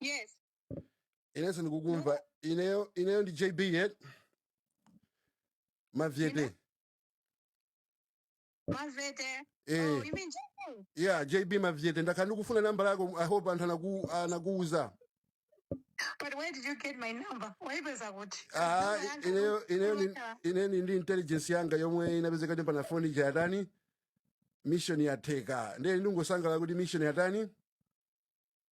Yes. Inenso ndikukumva. Ineyo ineyo ndi JB Mavyete. Mavyete. Mavyete. Eh. Oh, you mean JB? Yeah, JB Mavyete. Ndakhala ndikufuna namba yako. I hope anthu anaku anakuuza. But where did you get my number? Waipeza kuti. Ah, ineyo ineyo ni ineyo ni ndi intelligence yanga yomwe inapezeka kuti pano phone ija yatani? Mission yatheka. Ndiye ndingosangalala kuti mission yatani?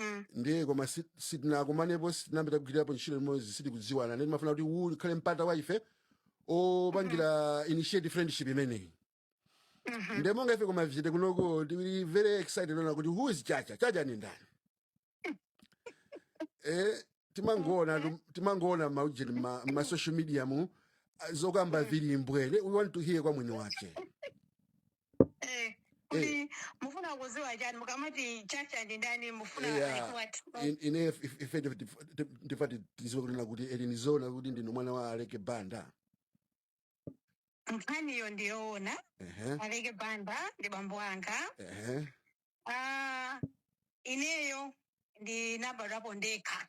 Mm. Ndiye koma si- sitinakumanepo sitinapita kugwirapo ntchito limodzi sitikudziwana ndiye timafuna kuti uwu ukhale mpata wa ife opangira initiate friendship imeneyi Mhm. ndiye monga ife kwa Mavyete kunoko tili very excited kunena kuti who is Chacha Chacha ndi ndani eh timangoona tu- timangoona maujeni ma, ma social media mu ah, zokamba zili mbwee we want to hear kwa mwini wake Eh, kuti mufuna kuziwa chani mukamati Chacha ndi ndani mufuna like eya what in- ine if- if- ife ndife- ndife- ndife- ndife ti- tiziwe kunena kuti kodi ndi zoona kuti ndinu mwana wa Aleke Banda nkhaniyo ndiyoona ehe Aleke Banda ndi bambo anga ehe Ah, ineyo ndinabadwapo ndekha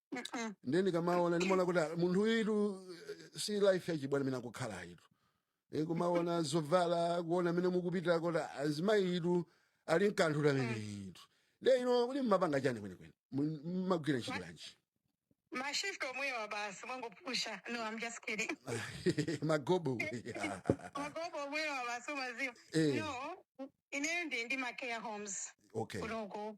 Mm-mm. ndiye ndikamaona ndimaona kuti ah, munthu uyitu eh, si life yachibwana imene akukhala ayitu, kumaona zovala kuona mmene mukupitira kuti azimayi uyutu ali nkanthu ameneyutu ndiye inu kodi mmapanga chani kwenikweni Mu- mmagwira ntchito yanji Mashift omwewa basi mwangopusha. No, I'm just kidding. magobo Magobo omwewa basi umaziwa. Eh. No, ineyo ndili ndi ma care homes. okay Kunoko.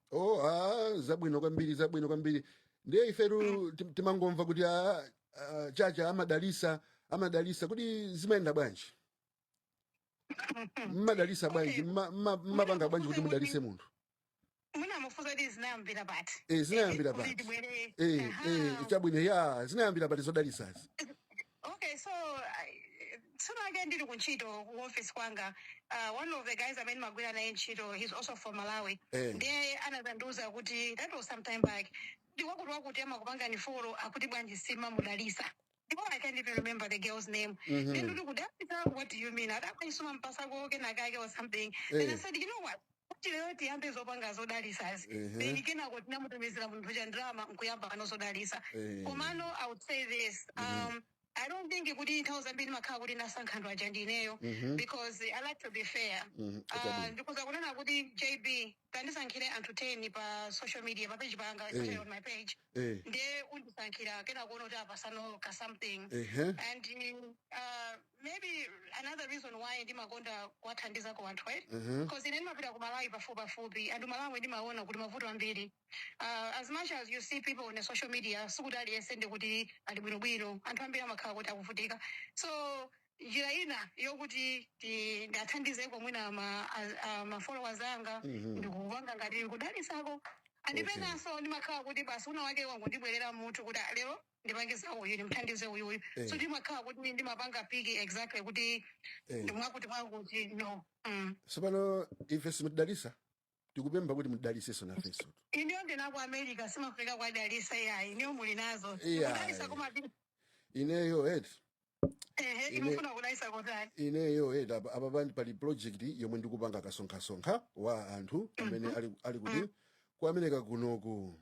Oh, ah, zabwino kwambiri zabwino kwambiri ndiye Mm. ifetu tim- timangomva kuti ah, ah, Chacha amadalisa amadalisa kuti zimayenda bwanji mmadalisa bwanji Okay, mma- mma- mwina mmapanga bwanji kuti mudalise munthu mwina mufunse kuti zinayambira pati e, zinayambira kuti pati tibwere e, e, aha chabwino ya zinayambira pati zodalisazi Okay, so I, tsiku lina lake ndili kuntchito ku office kwanga. Uh, one of the guys amene ndimagwira naye ntchito, he's also from Malawi. Eh. Ndiye anazandiuza kuti that was some time back. Ndi wakuti wakuti amakupanga inu follow akuti bwanji simumamudalisa. Ndipo I can't even remember the girl's name. Mm-hmm. Then ndikuti kudalisa, what do you mean? Adati ayi simumampatsa kake kenakake or something. Eh. Then I Eh. said, you know what? chifukwa lero tiyambe zopanga zodalisazi Ehe. then kenako tinamutumizira munthu uja ndalama nkuyamba pano zodalisa Eh. komano i would say this um, i don't think kuti nthawi zambiri ndimakhala kuti ndasankha anthu aja ndineyo Mhm. because i like to be fair Mhm, Ah, chabwino. ndikuuza kunena kuti JB tandisankhire anthu 10 pa social media pa page panga Eh. especially on my page eh. nde undisankhira kena kuwona uti apatseno ka something Ehe. and uh, maybe another reason why ndimakonda kuthandizako anthu eh? Ehe. because ine ndimapita ku malawi pafupi pafupi and malawi ndimaona kuti mavuto ambiri uh, as much as you see people on the social media sikuti aliyense nde kuti ali bwinobwino anthu ambiri amakhala kuti akuvutika so njira ina yokuti ndingathandizeko mwina ma, a, a, ma followers anga Mhm. ndikupanga ngati kudalitsako and penanso ndimakhala kuti basi winawake wangondibwerera m'mutu kuti "Ah, lero ndipange za uyu ndimthandize uyu uyu Eh. so ndimakhala kuti ndimapanga piki exactly kuti Eh. ndimwakuti mwakuti no mm. tsopano ife simutidalitsa tikupempha kuti mudalitsenso nafenso inuyo ndinu a kwa America simafika kwa dalitsa yayi. Inuyo muli nazo. Tikudalitsa iyayi koma bi- ineyo eti ehe inu mufuna kudalitsa kotani. ineyo eti apa apa pandi pali project yomwe ndikupanga kasonkhasonkha wa anthu amene Mhm. ali, ali kuti Mm. ku america kunoku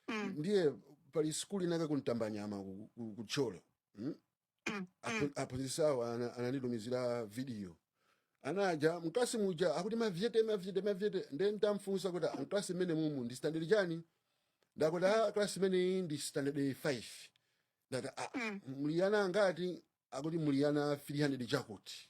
Mm. ndiye pali sukulu inayake kuntambanyama ku, ku, ku thyolo mm? Apo- aphunzitsi awo ana- ananditumizira vidiyo anaja mklasi muja akuti mavyete mavyete mavyete nde ndamfunsa kuti "Ah, mklasi mmene mumu ndi standard chani nde akuti a klasi imeneyi ndi standard 5 ndati "Ah, muli ana angati akuti muli ana 300 chakuti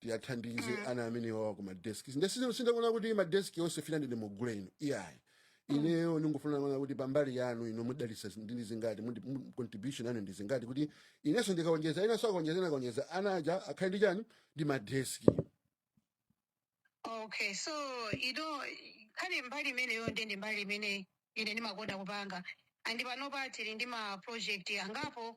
tiwathandize ana amene wawa kuma deski nde sino- sindikunena kuti madeski onse 50 nde mugule inu iyayi ineyo ndingofuna kuona kuti pambali yanu inu mudalitsa ndi zingati mundi- mu- contribution yanu ndi zingati kuti inenso ndikaonjeza enanso akaonjeza ena akaonjeza ana aja akhale ndi chani ndi madeski okay so ino khali mbali imeneyo nde ndi mbali imene ine ndimakonda kupanga and panopa tili ndi ma project angapo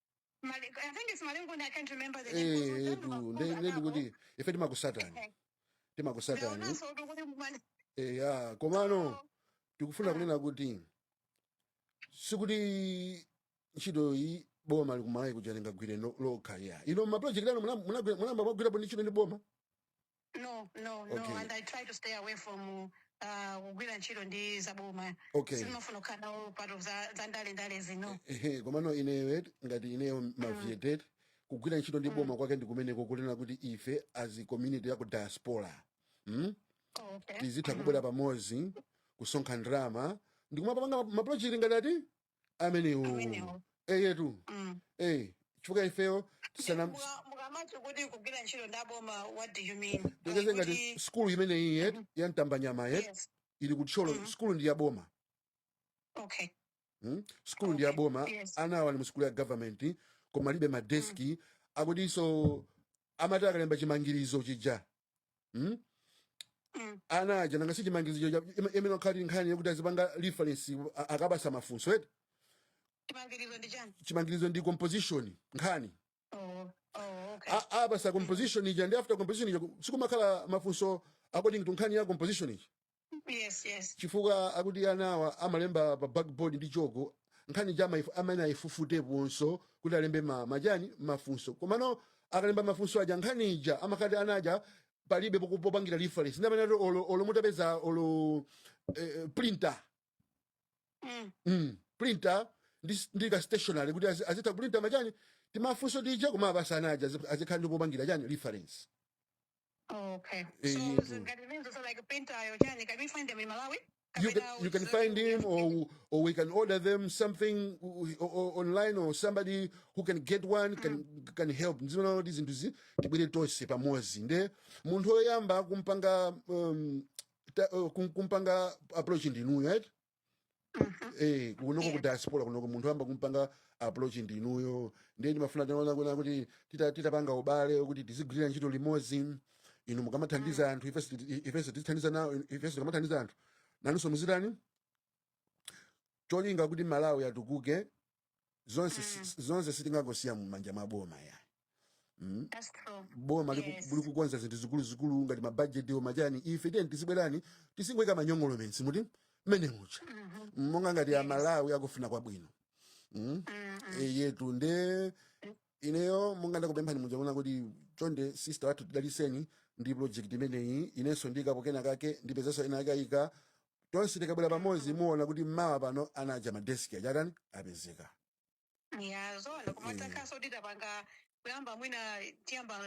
Mali- I think it's Malingunde, I can't remember the name. Kuzo etu zandu nde bakunda nde nabo. ndikuti ife timakusatani Eh, Leona timakusatani so tukuti mwana. eya komano So, tikufuna mm, kunena kuti sikuti ntchito iyi boma la ku malawi kuja lingagwire no- lokha ayi inu mapulojekiti anu muna- munagwi- munayamba mwagwirapo ndi ntchito ndi boma no no no okay and i try to stay away from uh, kugwira ntchito ndi zaboma okay sindimafuna kukhala nawo part of za za ndale ndale izi no ehe komano ineyo eti ngati ineyo mm. mavietet kugwira ntchito ndi boma mm. kwake ndi kumeneko kunena kuti ife as a community ya ku diaspora mm? oh, okay tizitha mm. kubwera pamodzi kusonkha ndalama ndikumapanga maprojekti ngati ati amenewo amenewo eyetu mm. eh chifukwa ifeyo tisana Muka- mukamati kuti kugwira ntchito ndi aboma what do you mean Like tiyerekeze ngati kuti skulu imeneyi eti ya mtambanyama eti yes ili kuthyolo Mhm. skulu ndi ya boma okay Hmm? skulu ndi ya okay boma yes ana awa ali mu skulu ya government koma alibe mm. madeski akutinso amati akalemba chimangirizo chija mm? Mm. ana aja nanga sichimangizo cha- ime- imene okhali nkhani yokuti azipanga reference a- akapatsa mafunso eti chimangirizo ndi chani chimangirizo ndi composition nkhani oh, oh, okay A- apatsa composition ija ndi after composition ija sikumakhala mafunso according to nkhani ya composition ija Yes, yes. chifukwa akuti anawa amalemba pa blackboard ndi choko nkhani ija ma ifu- amene ayifufutenso kuti alembe ma- machani mafunso komano akalemba mafunso aja nkhani ija amakhala kuti ana aja palibe poku- popangira reference ndi amene ati olo olo mutapeza olo eh, printer Mm. mm, printer ndi, ndi ka stationary kuti azi- azitha kuprinta machani timafunso tija kumawapatsa ana aja azi- azikhala ndi popangira chani reference Oh, okay. So Eyetu. zingati I mean so like printer-yo chani, can we find them in Malawi? you can, Kapena you can uza- find him or or we can order them something o- o- online or somebody who can get one can, can help ndizoona kuti zinthu zi tibwere tonse pamodzi nde munthu woyamba kumpanga um, ta, uh, kum- kumpanga approach ndinuyo right eh kunoko ku diaspora kunoko munthu oyamba kumpanga approach ndi inuyo ndiye ndimafuna tinene kunena kuti tita- titapanga ubale kuti tizigwirira ntchito limodzi inu mukamathandiza anthu ifenso ti- ifenso tithandize nawo ifenso tikamathandiza anthu nanunso muzitani cholinga kuti malawi atukuke zonse si- zonse sitingangosiya mumanja mwa boma ayi mm? That's true. boma liku- Yes. likukonza zinthu zikuluzikulu ngati mabajeti ndi machani ife tiyeni tizibwerani tizingoyika ma acknowledgements muti mmenemu cha Mhm. monga ngati Yes. amalawi akufuna kwabwino mm? Mm, mm. eyetu nde ineyo monga ndakupemphani muja kunena kuti chonde sister wathu tidaliseni ndi project imeneyi inenso ndiikapo kena kake ndipezanso ena akayika tonse tikabwera pamodzi muona kuti mmawa pano ana aja madeski achatani apezeka yazo ndikumatakhaso kuti tapanga kuyamba mwina tiyamba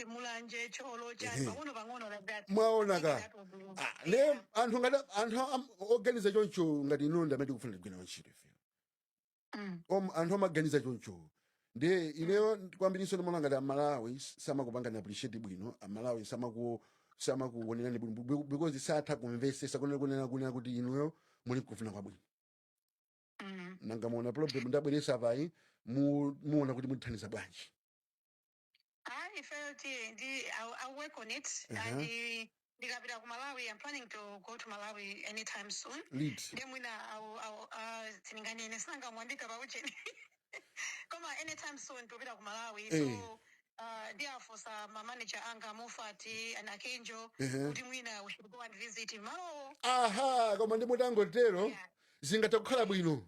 Mulanje Thyolo chani Ehe. pang'ono pang'ono like that mwaona eti Tengera Ah, tubu. nde anthu ngati anthu am- oganiza choncho ngati inuyo ndamene tikufuna tigwire ntchito ife Om- anthu amaganiza choncho nde ineyo kwambirinso ndimaona ngati amalawi samakupangani appreciate bwino amalawi samaku- samakuonerani bwino be- because satha kumvesesa kunena kunena kunena kuti inuyo muli kufuna kwabwino nanga muona problem ndabweresa apayi mu- muona kuti mutithandiza bwanji Ah, ifeyo tiye ndi I'll, I'll work on it and Aha. uh, ndikapita ku Malawi I'm planning to go to Malawi anytime soon. Liti. Nde mwina I'll, I'll, uh, sindinganene sinanga mwandiika pa ucheni. Koma anytime soon ndipita ku Malawi Eh. so uh, ndiwafunsa ma manager anga Moffat and Akenjo Ehe. kuti mwina we should go and visit Malawi. Aha, koma ndi mutangotero Yeah. zingathe kukhala bwino.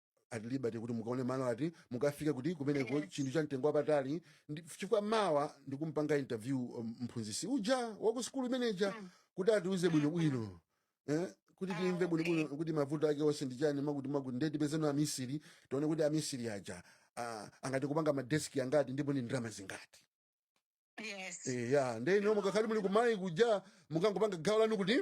at liberty kuti mukaone malo ati mukafika kuti kumeneko Yes. chinthu cha mtengo wapatali ndi- chifukwa mawa ndikumpanga interview um, mphunzitsi uja waku sukulu imene ija Mm. kuti atiuze Mm, bwinobwino eh? kuti Ah, timve bwinobwino okay. kuti mavuto ake onse ndi chani makuti makuti ndiye tipezeno amisiri tione kuti amisiri aja ah, angati kupanga madeski angati ndipo ndi ndalama zingati Yes. Eh, ya ndiye ino mukakhala muli kumalawi kuja mukangopanga gawo lanu kuti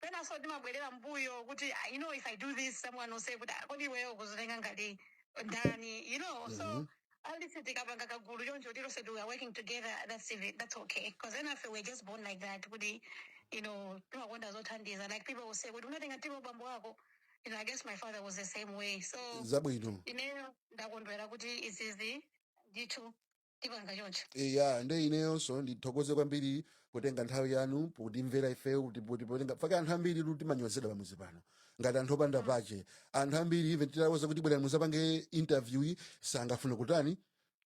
penanso timabwerera mbuyo kuti ah, you know if i do this someone will say kuti ah, kodi iweyo ukuzitenga ngati ndani you know so Mhm. at least tikapanga kagulu choncho tilose we are working together that's even, that's okay because enafe we're just born like that kuti you know timakonda zothandiza like people will say kuti unatengatu bambo wako you know i guess my father was the same way so zabwino ineyo ndakondwera kuti izizi ndithu tipanga choncho Eh, ya nde ineyonso ndithokoze kwambiri kutenga nthawi yanu potimvera ifeyo kuti poti potenga faka anthu ambiri kuti timanyozedwa pamuzi pano ngati anthu opanda pache anthu ambiri even titawuza kuti bwerani muzapange interview yi sangafune kutani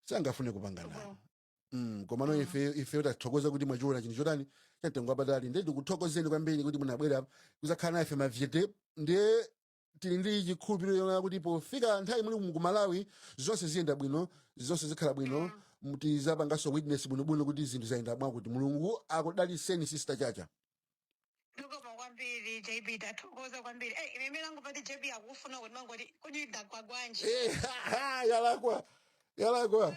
sangafune kupanga nawo Mm, komano Mm. ife ife tathokoza kuti mwachiona chinthu chotani chamtengo wapatali ndiye ndikuthokozeni kwambiri kuti munabwera kuzakhala nafe mavyete ndiye tili ndi chikhulupiriro chonena kuti pofika nthawi imene muli kumalawi zonse ziyenda bwino zonse zikhala bwino mu- tizapanganso witness bwinobwino kuti zinthu zayenda mwakuti mulungu akudaliseni sister chacha zikomo kwambiri jb tathokoza kwambiri Eh, ine imene angopati jb akufuna kuti mangoti kodi ndagwa bwanji Eh, yalakwa yalakwa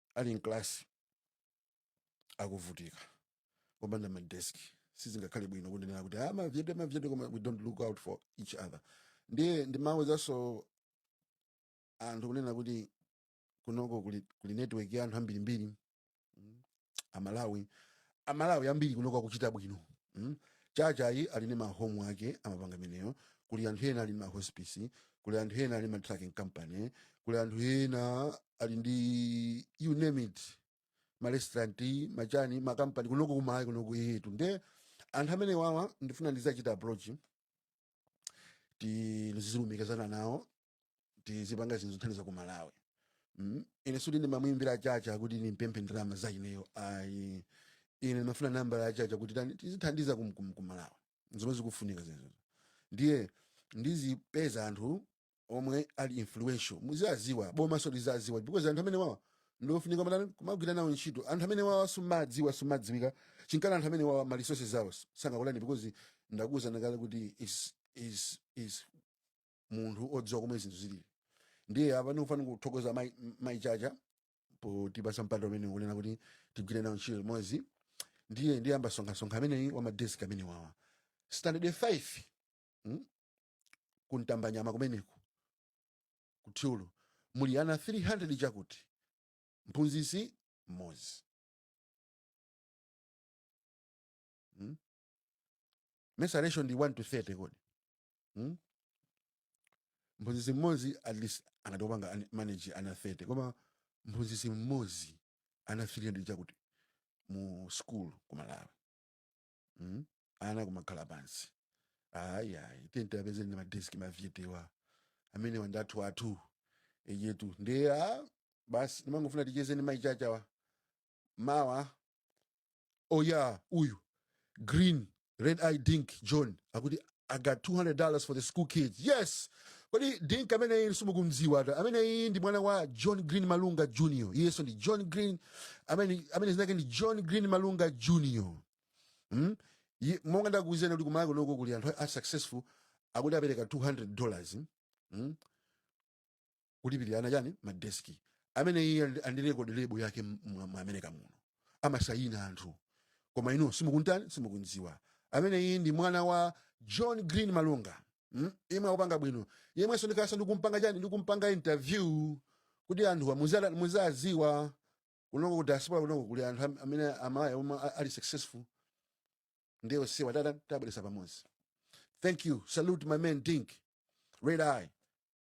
ali mklasi akuvutika kopanda madesk sizingakhale bwino kungonena kuti ah, mavyete mavyete koma we don't look out for each other ndiye ndimawuzanso anthu kunena kuti kunoko kuli, kuli network ya anthu ambirimbiri mm, amalawi amalawi ambiri kunoko akuchita bwino mm? chachayi ali ndi mahomu ake amapanga imeneyo kuli anthu ena ali ndi mahospice kuli anthu ena ali ndi matrucking company kuli anthu ena ali ndi you name it marestaurant machani makampani kunoko kumalawi kunoko iyetu nde anthu amene wawa ndifuna ndizachita approach tizilumikizana nawo tizipanga zinthu zothandiza ku malawi mm? ine suti ndimamwimbira chacha kuti ndimpemphe ndalama za ineyo ayi ine ndimafuna nambala yachacha kuti tani tizithandiza kum- kum- ku malawi zomwe zikufunika zimenezo ndiye ndizipeza anthu omwe ali influential muziwaziwa boma so liziwaziwa because anthu amene wawa ndiofunika matani kumagwira nawo ntchito anthu amene wawa sumadziwa sumadziwika chinkana anthu amene wawa ma resources awo sangakulani because ndakuwuzani kale kuti is is is munthu odziwa komwe zinthu zilili ndiye apa ndikufuna kuthokoza mai mai chacha potipasa mpata umene kunena kuti tigwire nawo ntchito limodzi ndiye ndiyamba sonkhasonkha ameneyi wa madesk amene wawa standard 5 mm? ku Ntambanyama kumeneko ku Thyolo muli ana 300 chakuti mphunzitsi mmodzi mm? mesa ratio ndi 1 to 30 kodi mm? mphunzitsi mmodzi at least angathe kupanga an- manage ana 30 koma mphunzitsi mmodzi ana 300 chakuti mu school ku malawi mm? ana kumakhala pansi ayi ayi tiye apeze ndi madeski ma viewer awa amene wanthu athu athu eyetu ndiye a basi ndimangofuna ticheze ndi mai Chachawa mawa oya uyu green red eye dink john akuti I got $200 for the school kids. Yes! Kodi Dink ameneyi simukumdziwa ata. Ameneyi ndi mwana wa John Green Malunga Jr. Iyenso ndi John Green, amene amene zinake ndi John Green Malunga Jr. Hmm? Ye- Monga ndakuwuzani kuti kumaiko kunoko kuli anthu a successful akuti apereka $200. Hmm? kulipirira ana chani madeski amene iye ali- ali ndi rekodi lebu yake mu mu america muno amasayina anthu koma inu simukuntani simukumziwa ameneyi ndi mwana wa john green malunga mm? yemwe akupanga bwino yemwenso ndifunika kumpanga chani ndikumpanga interview kuti anthuwa muzala- muzaziwa kunoko ku diaspora kunoko kuli anthu am- amene amaya omwe a- ali successful ndiye onsewa ta- ta- tabweresa pamodzi thank you salute my man dink red eye